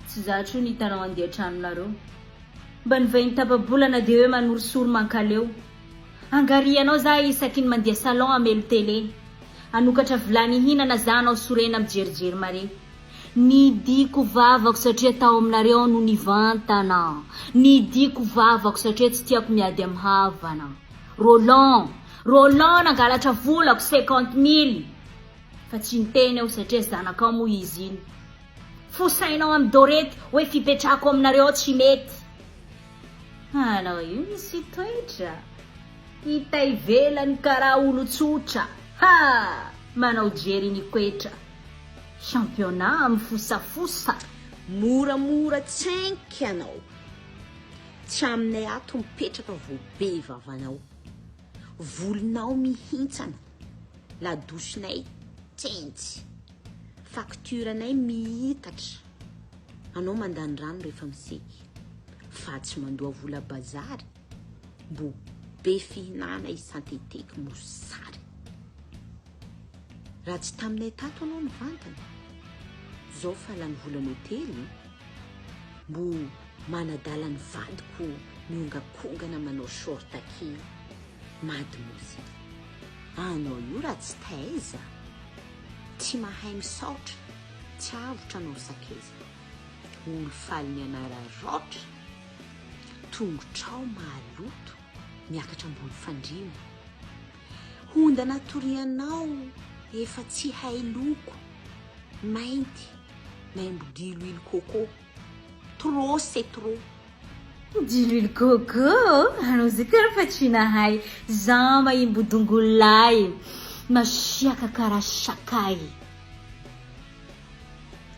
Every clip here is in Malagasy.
Tsy za tro ny hitanao handeha an-tranonareo. Mba ny vahiny tapa-bolana dia hoe manorisory mankaleo. Angarianao za isaky ny mandeha salon hamelo tele. Hanokatra vilany hihinana za hanao sorena mijerijery mare. Nidiako vavako satria tao aminareo aho no nivantana. Nidiako vavako satria tsy tiako miady amin'ny havana. Roland, Roland nangalatra volako cinquante mille fa tsy niteny aho satria zanakao moa izy iny. Fosainao amin'i Dorette hoe fipetrahako aminareo ao tsy mety. Anao io misy toetra. Hita ivelany karaha olon-tsotra. Ha! Manao jery ny koetra. Championnat mifosafosa. Moramora tsenky ianao. Tsy aminay ato mipetraka vao be vavanao. Volonao mihintsana, ladosinay tsentsy, facture anay miitatra, anao mandany rano rehefa miseky, fa tsy mandoa vola bazary, mbo be fihinana i Santetek mosary. Raha tsy taminay tato anao nivantana, zao fa lany volana hotely, mbo manadala ny vadiko miongakongana manao short kely, mad mozy. Anao io raha tsy taiza, tsy mahay misaotra, tsy avotra anao sakaiza. Olo faly mianara raotra, tongotrao mahaloto miakatra ambony fandriana. Hondana torianao efa tsy hay loko, mainty, maimbo diloilo coco, trop c'est trop. Diloilo coco anao zay tena fa tsy nahay za maimbo dongolo lay masiaka kara sakay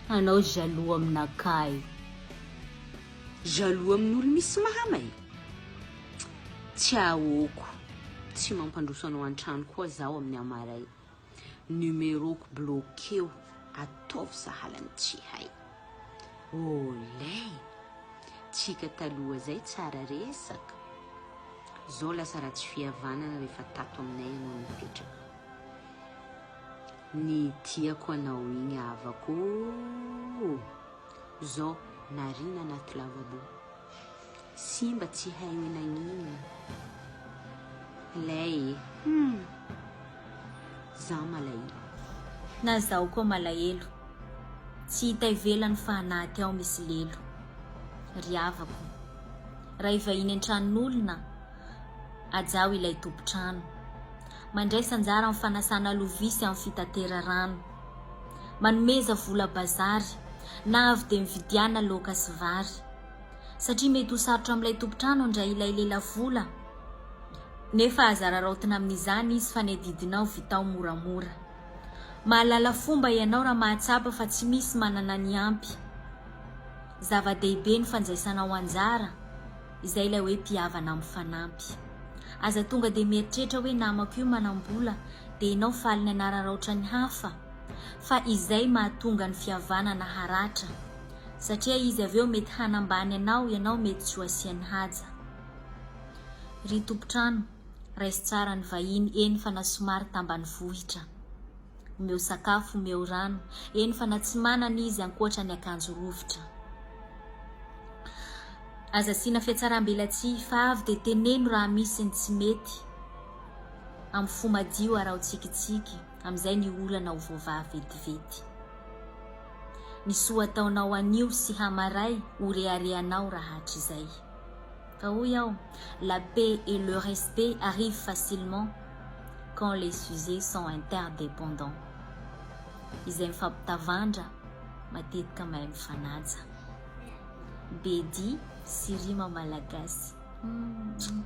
anao jaloux aminakahy. Jaloux amin'olo misy mama e! Tsiahoko tsy mampandroso anao antrano koa zaho amin'ny hamaray. Numeroko bloqueo, ataovy sahalan'ny tsy hay. Oley! Tsika taloha zay tsara resaka. Zao lasa ratsy fihavanana rehefa tato aminay ianao nipetraka. Ny tiako anao igny havako o! Zao nariana anaty lavabo. Simba tsy hay hoe nagnino lay e! Humm! Za malahelo. Na zaho koa malahelo. Tsy hita ivelany fa anaty ao misy lelo. Ry havako. Raha hivahiny an-tranon'olona, ajaho ilay tompon-trano. Mandraisa anjara amin'ny fanasana lovia sy amin'ny fitateran-rano. Manomeza vola bazary, na avy dia mividiana laoka sy vary. satria mety ho sarotra amin'ilay tompon-trano handray ilay lelavola nefa aza araraotina amin'izany izy fa ny adidinao vitao moramora. Mahalala fomba ianao raha mahatsapa fa tsy misy manana ny ampy. Zava-dehibe ny fanjaisanao anjara, izay ilay hoe mpihavana mifanampy. Aza tonga dia mieritreritra hoe namako io manam-bola dia ianao faly ny hanararaotra ny hafa fa izay mahatonga ny fihavanana haratra, satria izy avy eo mety hanambany anao ianao mety tsy ho asiany haja ry tompotrano raiso tsara ny vahiny eny fa na somary tambanivohitra omeo sakafo omeo rano eny fa na tsy manana izy ankoatra ny akanjo rovitra aza asiana fiatsaram-belatsihy fa avy dia teneno raha misy ny tsy mety amin'ny fo madio araho tsikitsiky Amin'izay ny olana ho voavaha vetivety. Ny soa ataonao anio sy hamaray ho reharehanao raha hatrizay. Fa hoy aho, la paix et le respect arrivent facilement quand les sujets sont interdependants. Izay mifampitavandra matetika mahay mifanaja. Be dihy sy rima malagasy. Humm.